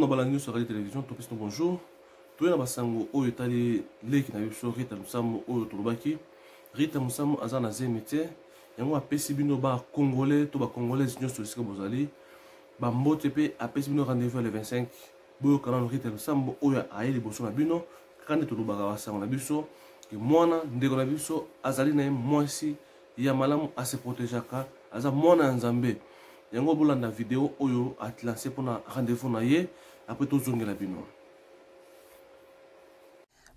na balandi nyonso ya radio télévision topesi no bonjour toye na basango oyo etali leki na biso rita mosambo oyo tolobaki rita mosambo aza na zemi te yango apesi bino bacongolais to bacongolaise nyonso esika bozali bambote mpe apesi bino rendez-vous ya le 25 boyokana na rita mosambo oyo aye liboso na bino kaka nde tolobaka basango na biso mwana ndeko na biso azali na ye mwasi ya malamu a se protegeaka aza mwana ya nzambe yango bolanda video oyo atlase mpona rendez-vous na ye apres tozongela bino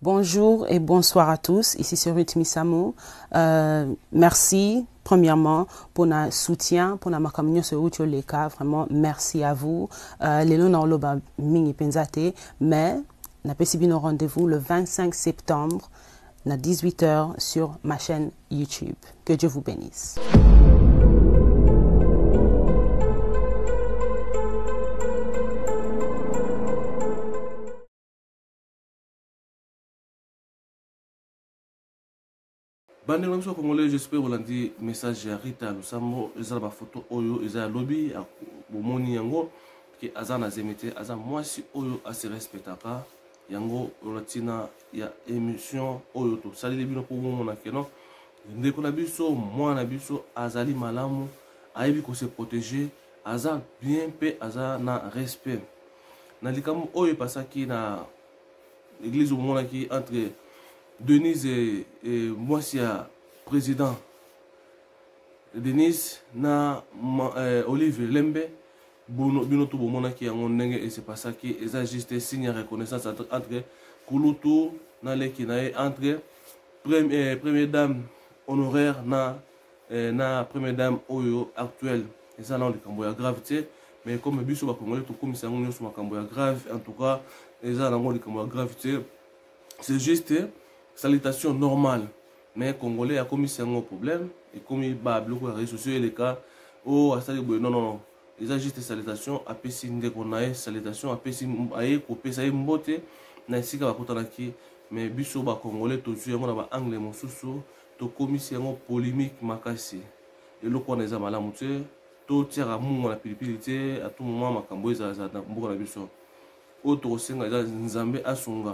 Bonjour et bonsoir à tous. Ici c'est Ruth Misamo. Euh, merci premièrement pour notre soutien, pour notre communion sur Ruth Leka. Vraiment, merci à vous. Euh, les lois oloba mingi penzate, mais n'a pas rendez-vous le 25 septembre na 18 heures sur ma chaîne YouTube. Que Dieu vous bénisse. bandeko na biso congolais j'espère olandi message ya rita lusambo eza na bafoto oyo eza ya lobi bomoni yango ke aza na zemi te aza mwasi oyo asirespectaka yango na ntina ya emission oyo tosaleli bino mpo bomona keno ndeko na biso mwana na biso azali malamu ayebi kose protéger aza bien mpe aza na respect na likambo oyo epasaki na église omonaki entre denise e, e, mwasi ya président denise na ma, e, olive lembe Bruno, bino tout bomonaki yango ndenge et se passaki eza juste signe ya reconnaissance entre kulutu na leki na ye entre premier, eh, premier dame honoraire na eh, na première dame oyo actuelle eza nao likambo ya grave te mais comme biso bakongole tokomisa yango nyonso makambo ya grave en tout cas eza nango likambo ya grave te c'est juste salutation normale mais congolais akomisi yango problème ekomi ba biloko ya réseau sociaux eleka o oh, asali boye non non eza juste salutation apesi ndeko na ye salutation apesi aye kopesa ye mbote na esika bakutanaki mais biso bacongolais tozwi yango na baangle mosusu tokomisi yango polémique makasi eloko wana eza malamu te totiaka mungo na pilipili te atu moma makambo ezalazala na mboka na biso oyo tokosenga eza nzambe asunga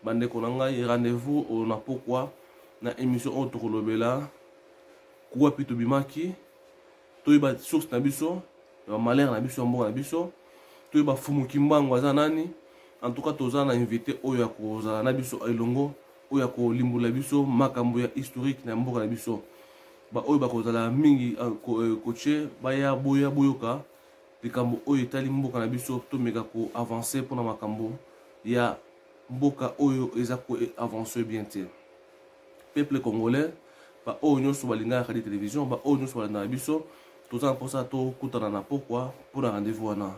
bandeko na ngai rendez-vous oyo na pokwa na émission oyo tokolobela kuwapi tobimaki toyeba source na biso ya bamalere na biso ya mboka na biso toyeba fumu kimbangu aza nani en tout cas toza na invité oyo akozala na biso elongo oyo akolimbola biso makambo ya historique na mboka na biso baoyo bakozala mingi kotie euh, baya boya boyoka likambo oyo etali mboka na biso tomeka ko avancer mpona makambo ya mboka oyo eza ko avancer bien te peuple congolais baoyo nyonso balingaka kadi télévision baoyo nyonso balandaka biso toza na mposa tokutana na pokwa mpo na rendez-vous wana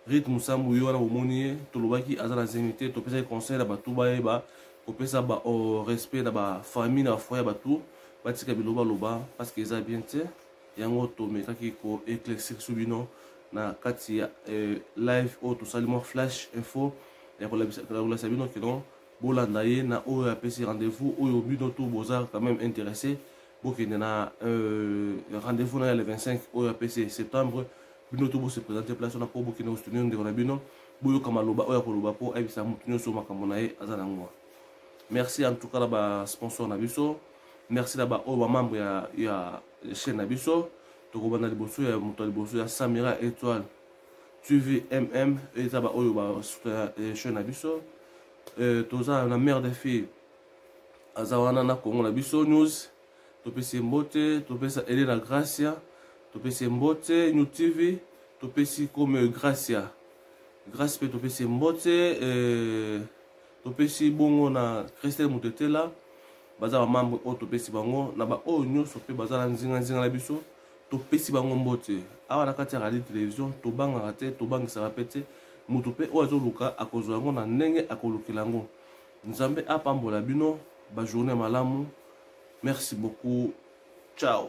rit mosambu yo wana bomoni ye tolobaki aza na zemi te topesaki conseil na bato bayeba kopesa ba oh, respect na bafamille na bafoye ya bato batika bilobaloba parce que eza bien te yango tomekaki ko éclaircir su bino na kati ya eh, live oyo tosali mwa flash info ya kolakisa bino kino bolanda ye na oyo apesi rendez-vous oyo bino tout boza quand même intéressé bokende na euh, rendez-vous na ya le 25 oyo apesi septembre bino tout bose présente place wana mpo bokende kosoutenir ndeko na bino boyoka maloba oyo akoloba mpo ayebisa motu nyonso makambo na ye aza na yango merci en tout cas na basponsor na biso merci na baoyo bamembre ya, ya chaîne na biso tokobanda liboso ya moto ya liboso ya samira étoile tvmm eza baoyo basuta eh, chaîne na biso eh, toza na mare de fille aza wana na congo na biso news topesi ye mbote topesa elena gracia topesi ye mbote new tv topesi comme gracia grace mpe topesi ye mbote eh, topesi bongo na christelle mutetela baza bamambre oyo topesi bango na baoyo nyonso mpe baza na nzinganzinga na biso topesi bango mbote awa na kati ya radio television tobangaka te tobangisaka mpe te moto mpe oyo azoluka akozwa yango na ndenge akolukela yango nzambe apambola bino bajourne malamu merci beaucoup ciao